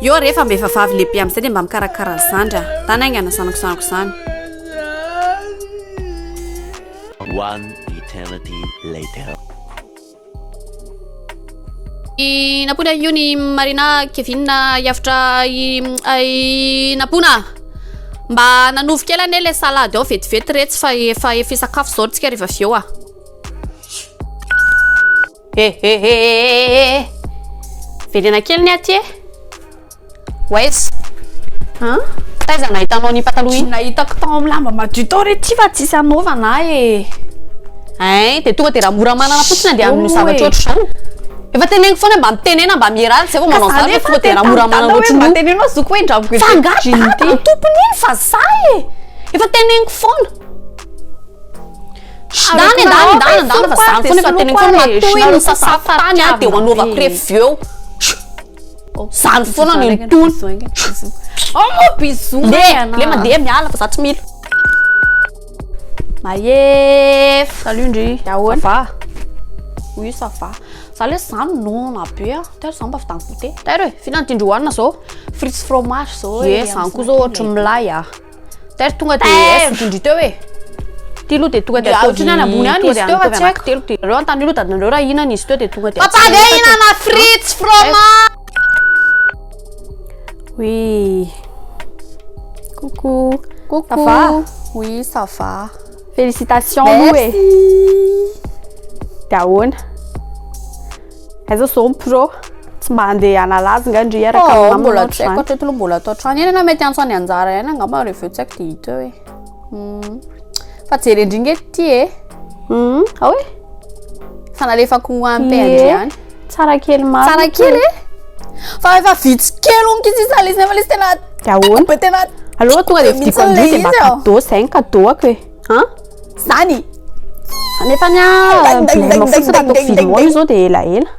Io ary efa mba efa vavy lehibe amin'izay dia mba mikarakara ny zandry ah. Tany aingana zanako zanako izany. One eternity later. I Napona io ny Marina Kevin hiavotra i i Napona. Mba nanovo kely anie le salade ao vetivety retsy fa efa efa sakafo zao tsika rehefa avy eo ah. Hehehehehehe. Velena kely ny aty e. Waiz. An? Taiza nahitanao ny pataloha iny? Nahitako tao amin'ny lamba madio tao re ty fa tsisy anaovana ahy e. Hein, dia tonga dia raha mora manana fotsiny dia amin'ny zavatra ohatr'izao. Efa teneniko foana mba mitenena mba miera azy zay vao manao zavatra tonga dia raha mora manana ohatr'izao. Mba tenenao zoky hoe indravo gojin. Fa angaha tata ny tompony iny fa za e. Efa teneniko foana. Shda ny andaniny ndana ndana fa zany foana efa teneniko foana hoe shda reo sasako tany a de ho anaovako revy eo zany foana no nitony oh mo bisou le le mandeha miala fa za tsy mila Mahefa Salut ndry Ahoana va Oui ça va Za le zany noana be a Tairo za mba vitan'ny goûter Tairo e Filan'ny tindroanina zao Frits fromage zao e Ye zany koa zao ohatry milay a Taire tonga de Taire. S indry teo e. Ty aloha de tonga de Dia ataovy ohatrany hanambony any izy teo fa tsy haiko. telo ty. Nareo anontany aloha dadinareo raha hihinana izy teo de tonga de Papa ve hinana frits fromage? Oui. Coucou. Coucou. Ça va? Oui, ça va. Félicitations aloha e. Merci. De ahoana? Aiza zao ny pro? Tsy mba andeha hanala azy nga ndry araka amin'ny mamany. Mbola tsy haiko hatreto aloha mbola atao trano. Ianana mety antso any anjara ihany angamba reveo tsy haiko dia hita eo e. Hmm. Fa jery endry nge ty e. Hmm. Ao e. Fa nalefako ho ampy andry ihany. Tsara kely maro. Tsara kely e. Fa efa vitsy kely onko izy izy nalesina fa lesy tena. Ahoana? Tena. Aloha tonga dia vidiko andry dia mba cadeau zay ny cadeau ako e. An? Zany! Nefa ny an, blem fotsy raha ataoko vidéo io zao dia elaela.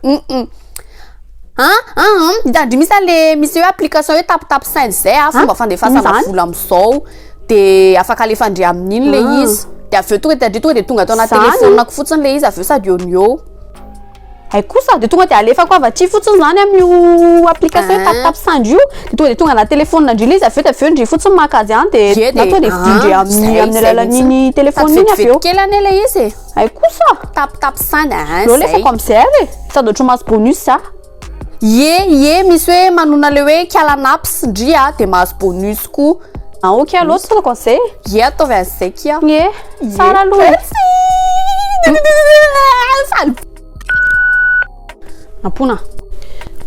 An? An? Hitandry misa le misy hoe application hoe tap tap send zay an, fomba fandefasana vola amizao. Dia afaka alefandry amin'iny le izy. Dia avy eo tonga dia tonga dia tonga ato anaty telephone-ako fotsiny le izy avy eo sady eo no eo. Hay kosa de tonga de alefako avy aty fotsiny zany amin'io application ah. tapitapy sandry io de tonga de tonga anaty telefonina ndry le izy avy eo de avy eo ndry fotsiny maka azy any de na tonga de ah, vidindry amin'ny amin'ny alalan'iny telefonina iny avy eo kely anie le izy hay kosa tapitapy sandry ah, lo lefako am'izay ary e sady ohatry mahazo bonus za ye ye misy hoe manona le hoe kialanapis ndry a de mahazo bonus koa ah ok aloha tsy fantako an'izay ye ataovy an'izay kia ye Tsara aloha. Sal. Ampona.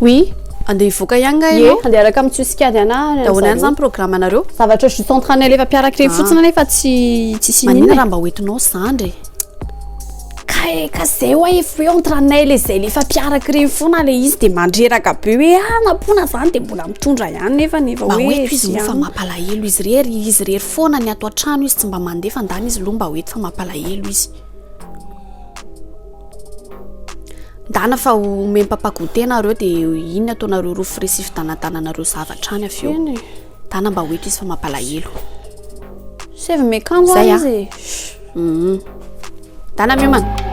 Oui, andeha hivoaka ihany nga ianao. Ye, andeha araka amin'ny tsiosikady ana. Daholo ihany zany programme anareo. Zavatra je suis en train alefa mpiaraka ireny ah. fotsiny nefa tsy tsy sinina. Manina raha mba hoentinao zandry. Ka e, ka zay hoa e fruit entre anay le zay le efa mpiaraka ireny foana le izy de mandreraka be hoe ah nampoina zany de mbola mitondra ihany nefany efa hoe hoeto izy moa fa mampalahelo izy rery izy irery foana ny ato an-trano izy tsy mba mandeha fa ndany izy loha mba hoeto fa mampalahelo izy ndana fa omem-pampagoute nareo de iny ataonareo roa frais sy fidanadananareo zavatra any avy eo Dana mba ho eto izy fa mampalahelo. Save mekango Zay, ah. izy. Mhm. Dana miomana.